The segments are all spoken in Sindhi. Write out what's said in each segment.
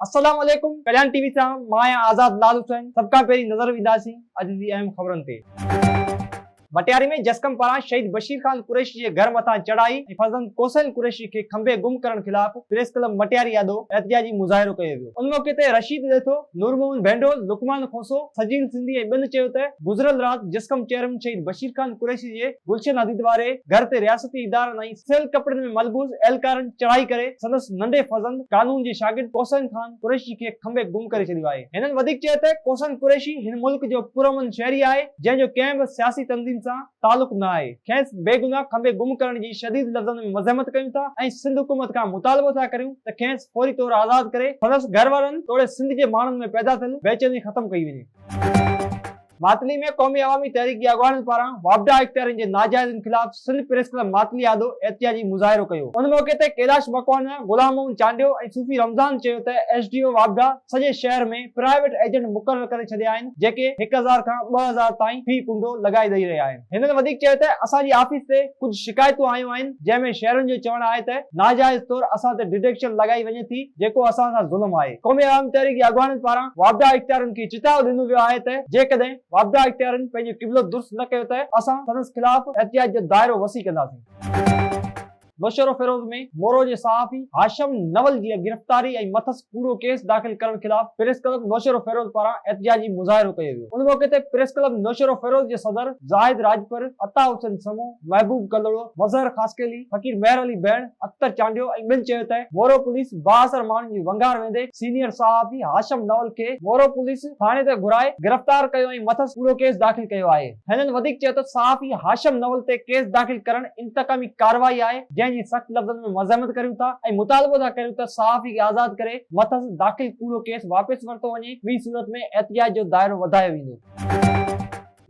السلام عليڪم ڪليان ٽي وي سان مان آهيان آزاد لال حسين سڀ کان پهرين نظر وجهنداسين اڄ جي اهم خبرن تي. مٽياري ۾ جسقم پاران شهيد بشير خان قريشي جي گهر مٿان چڙهائي ۽ فرزند ڪوسين قريشي کي کنڀي گم ڪرڻ خلاف پريس ڪلب مٽياري آڏو احتجاجي مظاهرو ڪيو ويو. ان موقعي تي رشيد ڏيٿو، نور محمد ڀينڊول، لقمان کوسو، سجين سنڌي ۽ ٻين چيو ته گذريل رات جسقم چيئرمين شهيد بشير خان قريشي جي گلشن حديد واري گهر تي رياستي ادارن ۽ سيل ڪپڙن ۾ ملبوس اهلڪارن چڙهائي ڪري سندس ننڍي فرزند قانون جي شاگرد ڪوسن خان قريشي کي کنڀي گم ڪري ڇڏيو آهي. هنن وڌيڪ چيو ته ڪوسن قريشي هن ملڪ جو پرامن شهري آهي جنهن جو ڪنهن به سياسي تنظيم سان تعلق نه آهي کيس بيگناهه کنڀي گم ڪرڻ جي شديد لفظن ۾ مزحمت ڪيون ٿا ۽ سنڌ حڪومت کان مطالبو ٿا ڪريون ته کيس فوري طور آزاد ڪري سندس گهر وارن توڙي سنڌ جي ماڻهن ۾ پيدا ٿيل بيچيني ختم ڪئي وڃي. ماتلي ۾ قومي عوامي تحريڪ جي اڳواڻن پاران واپڊا اختيارين جي ناجائزن خلاف سنڌ پريس ڪلب ماتلي آڏو احتجاجي مظاهرو ڪيو ان موقعي تي ڪيلاش مڪوانا، غلام محمد چانڊيو ۽ صوفي رمضان چيو ته ايس ڊي او واپڊا سڄي شهر ۾ پرائيويٽ ايجنٽ مقرر ڪري ڇڏيا آهن، جيڪي هڪ هزار کان ٻه هزار تائين في ڪنڊو لڳائي ڏئي رهيا آهن. هنن وڌيڪ چيو ته اسان جي آفيس تي ڪجهه شڪايتون آيون آهن جنهن ۾ شهرين جو چوڻ آهي ته ناجائز طور اسان تي ڊڊڪشن لڳائي وڃي ٿي جيڪو اسان سان ظلم آهي. قومي عوامي تحريڪ جي اڳواڻن پاران واپڊا اختيارين کي چتاء ڏنو ويو آهي ته جيڪڏهن واپڊا اختيارين پنهنجو قبلو درست نه ڪيو ته اسان سندس خلاف احتجاج جو دائرو وسيع ڪنداسين. نوشهروفيروز ۾ مورو جي صحافي هاشم نول جي گرفتاري ۽ مٿس ڪوڙو ڪيس داخل ڪرڻ خلاف پريس ڪلب نوشهروفيروز پاران احتجاجي مظاهرو ڪيو ويو ان موقعي تي پريس ڪلب نوشهروفيروز جي صدر زاهد راڄپر، عطا حسين سمون، محبوب ڪلهوڙو، مظهر خاصخيلي، فقير مهر علي بهڻ، اختر چانڊيو ۽ ٻين چيو ته مورو پوليس بااثر ماڻهن جي ونگار ويندي سينيئر صحافي هاشم نول کي مورو پوليس ٿاڻي تي گهرائي گرفتار ڪيو ۽ مٿس ڪوڙو ڪيس داخل ڪيو آهي. هنن وڌيڪ چيو ته صحافي هاشم نول تي ڪيس داخل ڪرڻ انتقامي ڪارروائي آهي، جنهن جي سخت لفظن ۾ مذمت ڪريون ٿا ۽ مطالبو ٿا ڪريون ته صحافي کي آزاد ڪري مٿس داخل ڪوڙو ڪيس واپس ورتو وڃي، ٻي صورت ۾ احتجاج جو دائرو وڌايو ويندو.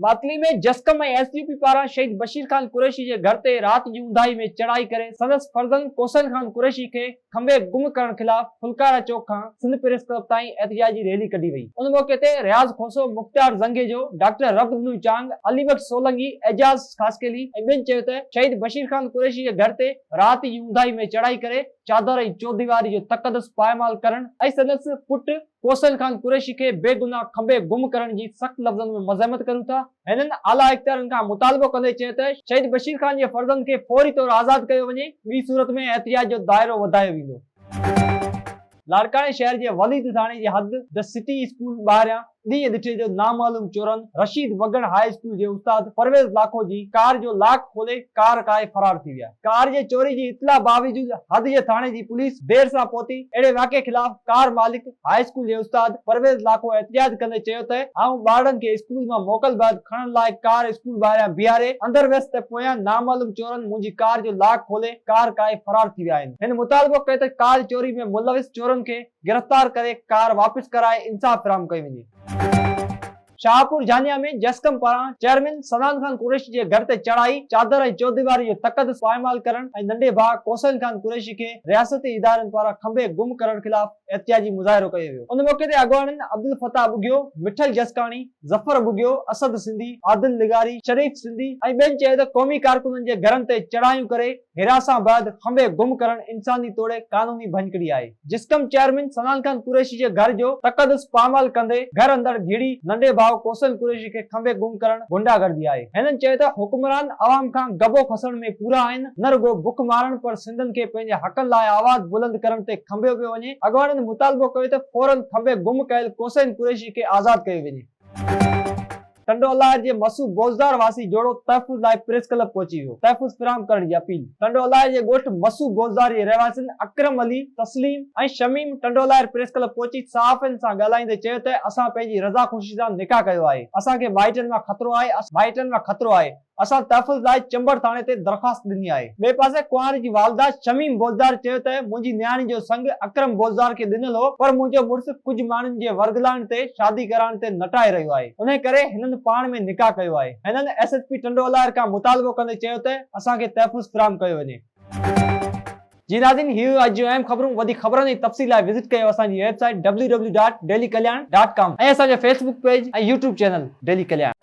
معطلي ۾ جسقم ۽ ايس يو پي پاران شهيد بشير خان قريشي جي گهر تي رات جي اونداهي ۾ چڙهائي ڪري سندس فرزند ڪوثر خان قريشي کي کنڀي گم ڪرڻ خلاف ڦلڪارا چوڪ کان سنڌ پريس ڪلب تائين احتجاجي ريلي ڪڍي وئي. ان موقعي تي رياض کوسو، مختيار زنگيجو، ڊاڪٽر رب دنو چانگ، علي بخش سولنگي، اعجاز خاصخيلي ۽ ٻين چيو ته شهيد بشير خان قريشي جي گهر تي رات جي اونداهي ۾ چڙهائي ڪري چادر ۽ چوديواري جو تقدس پائمال ڪرڻ ۽ سندس پٽ حسين خان قريشي کي بيگناهه کٻي گم ڪرڻ جي سخت لفظن ۾ مزاحمت ڪريون ٿا. هنن اعليٰ اختيارين کان مطالبو ڪندي چيو ته شهيد بشير خان جي فرزند کي فوري طور آزاد ڪيو وڃي، ٻي صورت ۾ احتجاج جو دائرو وڌايو ويندو. لاڙڪاڻي شهر جي وليد ٿاڻي جي حد دي سٽي اسڪول ٻاهريان ڏينهن ڏٺي جو نامعلوم چورن رشيد وڳڻ هاء اسڪول جي استاد پرويز لاکو جي ڪار جو لاڪ کولي ڪار ڪاهي فرار ٿي ويا. ڪار جي چوري جي اطلاع باوجود حد جي ٿاڻي جي پوليس دير سان پهتي، اهڙي واقعي خلاف ڪار مالڪ هاء اسڪول جي استاد پرويز لاکو احتجاج ڪندي چيو ته آئون ٻارڙن کي اسڪول مان موڪل بعد کڻڻ لاء ڪار اسڪول ٻاهريان بيهاري اندر ويس ته پويان نامعلوم چورن منهنجي ڪار جو لاڪ کولي ڪار ڪاهي فرار ٿي ويا آهن، هن مطالبو ڪيو ته ڪار چوري ۾ ملوث چورن کي گرفتار ڪري ڪار واپس ڪرائي انصاف فراهم ڪيو وڃي. شاهپور جهانيان ۾ جسقم پاران چيئرمين صنعان خان قريشي جي گهر تي چڙهائي، چادر ۽ چوديواري جو تقدس پائمال ڪرڻ ۽ ننڍي ڀاء ڪوسين خان قريشي کي رياستي ادارن پاران کنڀي گم ڪرڻ خلاف احتجاجي مظاهرو ڪيو ويو. ان موقعي تي اڳواڻن عبدالفتاح ٻگهيو، مٺل جسڪاڻي، ظفر ٻگهيو، اسد سنڌي، عادل لغاري، شريف سنڌي ۽ ٻين چيو ته قومي ڪارڪنن جي گهرن تي چڙهايون ڪري، هراسان بعد کنڀي گم ڪرڻ انساني توڙي قانوني ڀڃڪڙي آهي، جسقم چيئرمين سنان خان قريشي جي گهر جو تقدس پامال ڪندي گهر اندر گهڙي ننڍي ڀاء ڪوسل قريشي کي کنڀي گم ڪرڻ غنڊا گردي آهي، هنن چيو ته حڪمران عوام کان گبو کسڻ ۾ پورا آهن، نه رڳو بک مارڻ پر سنڌين کي پنهنجي حقن لاء آواز بلند ڪرڻ تي کنڀيو پيو وڃي، اڳواڻن مطالبو ڪيو ته فورن کنڀي گم ڪيل ڪوسين قريشي کي آزاد ڪيو وڃي. ٽنڊو الاهي جي مسو بوزدار واسي جوڙو تحفظ لاء پريس ڪلب پهچي ويو، تحفظ فراهم ڪرڻ جي اپيل، ٽنڊو الاهي جي ڳوٺ مسو بوزدار جي رهواسين اڪرم علي، تسليم ۽ شميم ٽنڊو الاهي پريس ڪلب پهچي صحافين سان ڳالهائيندي چيو ته اسان پنهنجي رضا خوشي سان نڪاح ڪيو آهي، اسان کي مائٽن مان خطرو آهي، اسان مائٽن مان خطرو آهي، اسان تحفظ لاء چمبڙ ٿاڻي تي درخواست ڏني آهي. ٻئي پاسي ڪنوار جي والده شميم بوزدار چيو ته منهنجي نياڻي جو سڱ اڪرم بوزدار کي ڏنل هو پر منهنجو مڙس ڪجهه ماڻهن جي ورغلائڻ تي شادي ڪرائڻ تي نٽائي رهيو آهي انهي ڪري هنن پاڻ ۾ نڪاح ڪيو آهي هنن S S P Tando Allahyar کان مطالبو ڪندي چيو ته اسان کي تحفظ فراهم ڪيو وڃي. جي ناظرين هي هيون اڄ جون اهم خبرون وڌيڪ خبرن ۽ تفصيل لاء وزٽ ڪيو اسان جي website W W dot daily Kalyan dot com ۽ اسان جو Facebook page ۽ YouTube channel daily ڪلياڻ.